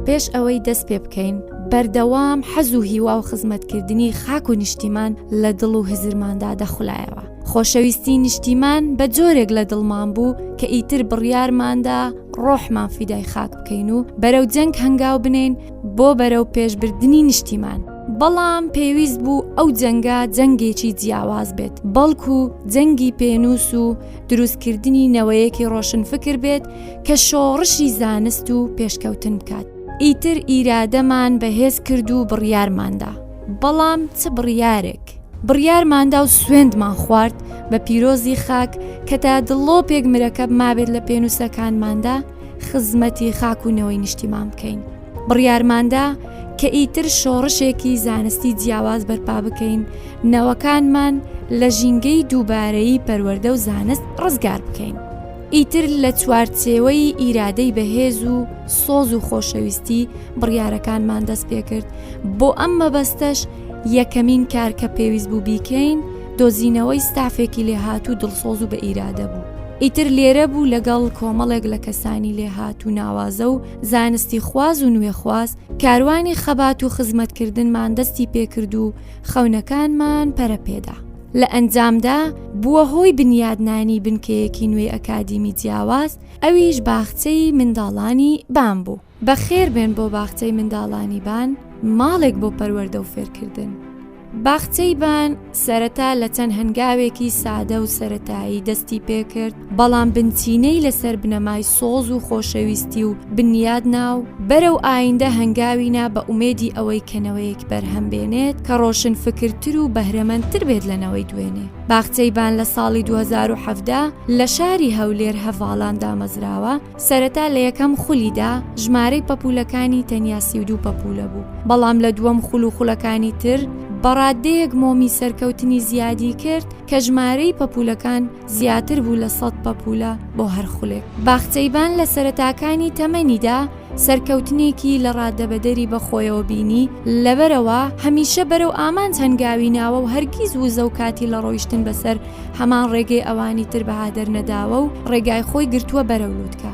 پێش ئەوەی دەست پێ بکەین بەردەوام حەز و هیوا و خزمەتکردنی خاک و نیشتیمان لە دڵ و هزرماندا دەخلایەوە خۆشەویستی نیشتیمان بە جۆرێک لە دڵمان بوو کە ئیتر بڕیارماندا ڕۆحمان فیدای خاک بکەین و بەرەو جەنگ هەنگاو بنین بۆ بەرەو پێشبردننی نیشتیمان. بەڵام پێویست بوو ئەو جەنگە جەنگێکی جیاواز بێت بەڵکو جەنگی پێنووس و دروستکردنی نەوەیەکی ڕۆشنفکر بێت کە شۆڕشی زانست و پێشکەوتن بکات ئیتر ئیرادەمان بەهێز کرد و بڕیارماندا بەڵام چ بڕیارێک؟ بڕیارماندا و سوێندمان خوارد بە پیرۆزی خاک کە تا دڵۆپێک مرەکەب مابێت لە پێنووسەکانماندا خزمەتی خاک و نەوەی نیشتیمان بکەین بڕیارماندا کە ئیتر شۆڕشێکی زانستی جیاواز بەرپا بکەین نەوەکانمان لە ژینگەی دووبارەی پەروەەردە و زانست ڕزگار بکەین ئیتر لە چوارچێوەی ئیرادەی بەهێز و سۆز و خۆشەویستی بڕیارەکانمان دەست پێکرد بۆ ئەم مەبەستەش یەکەمین کار کە پێویست بوو بیکەین دۆزینەوەی ستافێکی لێهات و دڵسۆز و بە ئیرادە بوو. ئیتر لێرە بوو لەگەڵ کۆمەڵێک لە کەسانی لێهات و ناوازە و زانستی خواز و نوێخواز کاروانی خەبات و خزمەتکردنمان دەستی پێکرد و خەونەکانمان پەرەپێدا. لە ئەنجامدا بووە هۆی بنیادنانی بنکەیەکی نوێی ئەکادیمی جیاواز ئەویش باخچەی منداڵانی بام بوو. بەخێربێن بۆ باخچەی منداڵانی بان، ماڵێک بۆ پەروەردە و فێرکردن. باخچەی بان سەرەتا لە چەند هەنگاوێکی سادە و سەرەتایی دەستی پێکرد، بەڵام بنچینەی لەسەر بنەمای سۆز و خۆشەویستی و بنیادنا و بەرەو ئایندە هەنگاوی نا بە ئومێدی ئەوەی کە نەوەیەک بەرهەم بێنێت کە ڕۆشنفکرتر و بەهرەمەندتر بێت لە نەوەی دوێنێ. باخچەی بان لە ساڵی دوو هەزار و حەڤدە لە شاری هەولێر هەڤاڵان دامەزراوە، سەرەتا لە یەکەم خولیدا ژمارەی پەپوولەکانی تەنیا سی و دوو پەپوولە بوو، بەڵام لە دووەم خول و خولەکانی تر بە ڕاددەیەک مۆمی سەرکەوتنی زیادی کرد کە ژمارەی پەپوولەکان زیاتر بوو لە سەد پەپوولە بۆ هەر خولێک. باخچەیڤان لە سەرەتاکانی تەمەنیدا سەرکەوتنێکی لە ڕاددەبەدەری بەخۆیەوە بینی، لەبەرئەوە هەمیشە بەرەو ئامانج هەنگاوی ناوە و هەرگیز وزە و کاتی لە ڕۆیشتن بەسەر هەمان ڕێگەی ئەوانی تر بەها دەرنەداوە و ڕێگای خۆی گرتووە بەرەو لوتکە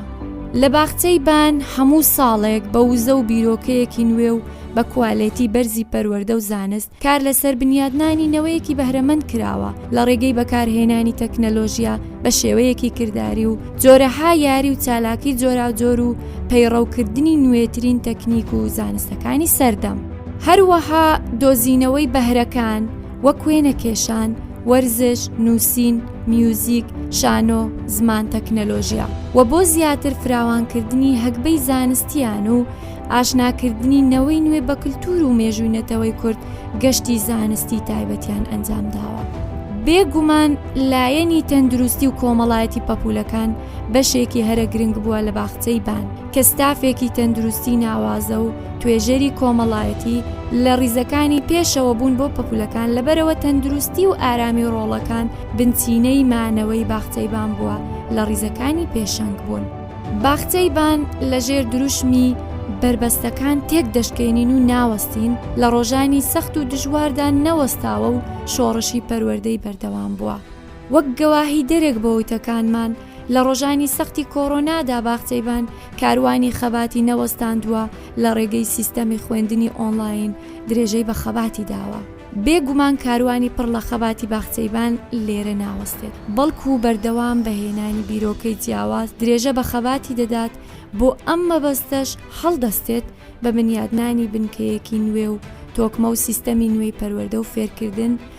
لە باخچەی بان هەموو ساڵێک بە وزە و بیرۆکەیەکی نوێ و بە کوالێتی بەرزی پەروەەردە و زانست کار لەسەر بنیادنانی نەوەیەکی بەهرەمەند کراوە لە ڕێگەی بەکارهێنانی تەکنەلۆژیە بە شێوەیەکی کردداری و جۆرەها یاری و چالاکی جۆراوجۆر و پەیڕەوکردنی نوێترین تەکنیک و زانستەکانی سەردەم هەروەها دۆزینەوەی بەهرەکان وەک وێنە کێشان وەرزش، نووسین، میوزیک، شانۆ، زمان تەکنەلۆژیا و بۆ زیاتر فراوانکردنی هەگبەی زانستیان و ئاشناکردنی نەوەی نوێ بە کللتور و مێژووی نەتەوەی کورد گەشتی زانستی تایبەتیان ئەنجام داوە. بێگومان لایەنی تەندروستی و کۆمەڵایەتی پەپولەکان بەشێکی هەرە گرنگ بووە لە باخچەی بان، کە ستافێکی تەندروستی ناوازە و توێژەری کۆمەڵایەتی لە ڕیزەکانی پێشەوە بوون بۆ پەپولەکان، لەبەرئەوە تەندروستی و ئارامی ڕۆڵەکان بنچینەی مانەوەی باخچەی بان بووە لە ڕیزەکانی پێشەنگ بوون. باخچەی بان لە ژێر دروشمی، بەربەستەکان تێک دەشکێنین و ناوەستین، لە ڕۆژانی سەخت و دژواردا نەوەستاوە و شۆڕشی پەروەردەی بەردەوام بووە. وەک گەواهیدەرێک بۆ وتەکانمان، لە ڕۆژانی سەختی کۆرۆنادا باخچەی بان کاروانی خەباتی نەوەستاندووە، لە ڕێگەی سیستەمی خوێندنی ئۆنڵاین درێژەی بە خەباتی داوە. بێ گومان کاروانی پڕ لە خەباتی باخچەی بان لێرە ناوەستێت، بەڵکو بەردەوام بە هێنانی بیرۆکەی جیاواز درێژە بە خەباتی دەدات، بۆ ئەم مەبەستەش هەڵدەستێت بە بنیادنانی بنکەیەکی نوێ و تۆکمە و سیستەمی نوێی پەروەردە و فێرکردن